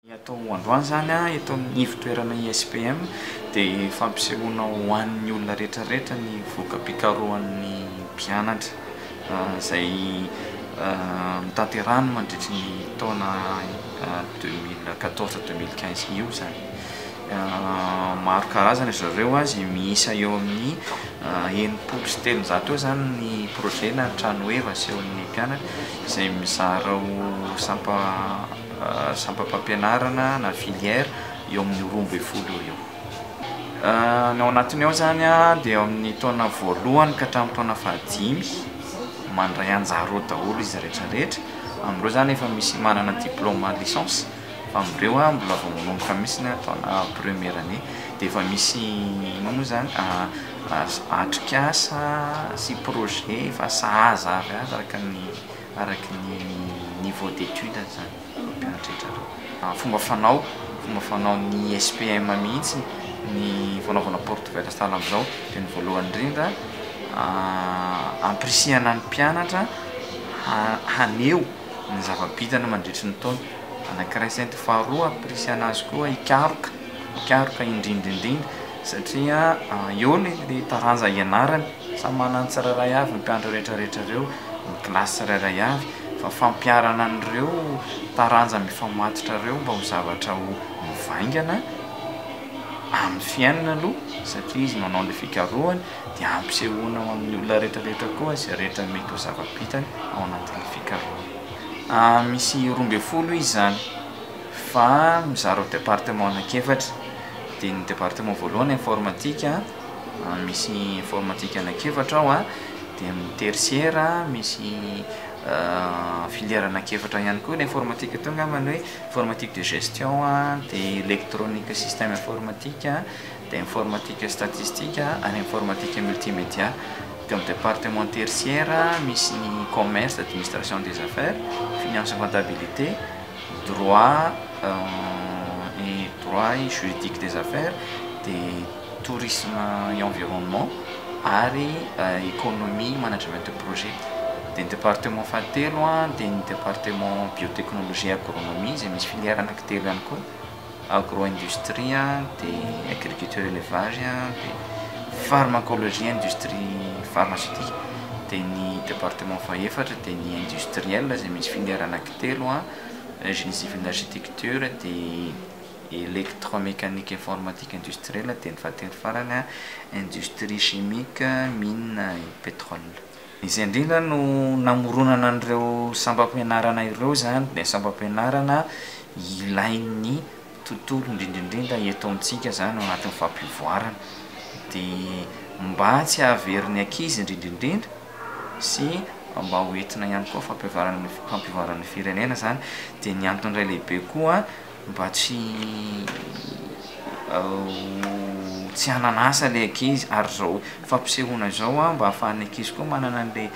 Ny atao androany izany eto amin'ny ivon-toerana ISPM dia fampisehoana ho an'ny olona rehetrarehetra ny voka-pikarohan'ny mpianatra izay notanterahiny mandritry ny taona deux mille quatorze deux mille quinze io izany. Maro karazana ry zareo a, izay miisa eo amin'ny enimpolo sy telonjato eo izany ny projet na ny trano heva asehon'ny mpianatra izay mizara ho sampa sampam-pampianarana na filière eo amin'ny roa ambin'ny folo eo ho eo. Ny ao anatiny ao izany a dia eo amin'ny taona voalohany ka hatramin'ny taona fahadimy mandray anjara ao daholo izy rehetra rehetra, amin'ireo izany efa misy manana diplaoma licence. fa amindreo a mbola vao manomboka mihitsy ny taona première année dia efa misy inona moa izany atrikasa sy projet efa sahaza avy azy araka ny araka ny niveau d'étude izany ireo mpianatra rehetra ireo, fomba fanao fomba fanaon'ny SPM mihitsy ny fanaovana porte verte sahala amin'izao dia ny voalohany indrindra ampirisihana ny mpianatra haneho ny zava-bitany mandritry ny taona anankiray sy anty faharoa ampirisihana azy koa hikaroka hikaroka indrindra indrindra satria eo le le taranja ianarany samy manana ny tsirairay avy ny mpianatra rehetrarehetra ireo ny kilasy tsirairay avy fa fampiharana an'ireo taranja mifamatotra ireo mba ho zavatra ho mivaingana amin'ny fiainana aloha satria izy manao an'le fikarohana dia ampisehoana ho amin'ny olona rehetrarehetra koa izay rehetra mety ho zava-bitany ao anatin'ny fikarohana. Misy roa ambin'ny folo izy izany fa mizara ho département anankiefatra, dia ny département voalohany informatique, misy informatique anankiefatra ao, dia ny tertiaire misy filière anankiefatra ihany koa, ilay informatique teo angambany hoe informatique de gestion, dia électronique système informatique, dia informatika statistika ary informatika multimédia teo amin'ny département tertiaire misy ny commerce, administration des affaires, finance et comptabilité, droit et droit et juridique des affaires, dia tourisme et environnement ary économie management de projet. Dia ny département fahatelo dia ny département biotechnologie et agronomie izay misy filière anankitelo ihany koa. Agro-industrie dia agriculture élevage dia pharmacologie industrie pharmaceutique dia ny département fahefatra dia ny industriel izay misy filière anakitelo génie civil architecture dia électromécanique informatique industriel dia ny fahatelo farany industrie chimique mines et pétrole Izay indrindra no namoronana an'ireo sampam-pianarana ireo izany dia sampam-pianarana ilain'ny tontolo indrindraindrindra eto amintsika izany ao anatin'ny fampivoarana dia mba tsy hahaverin'ny ankizy indrindraindrindra sy mba ho entina ihany koa fampivoarana ny firenena izany dia ny antony iray lehibe koa mba tsy tsy hanana asa ilay ankizy ary izao fampisehoana izao an mba ahafahan'ny ankizy koa manana an'ilay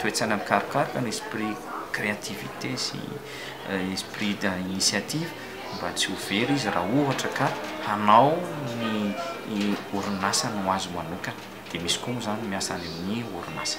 toe-tsaina mikarokaroka ny esprit créativité sy esprit d'initiative mba tsy ho very izy raha ohatra ka hanao ny orinasa ny ho azy manokana dia misy koa moa izany miasa any amin'ny orinasa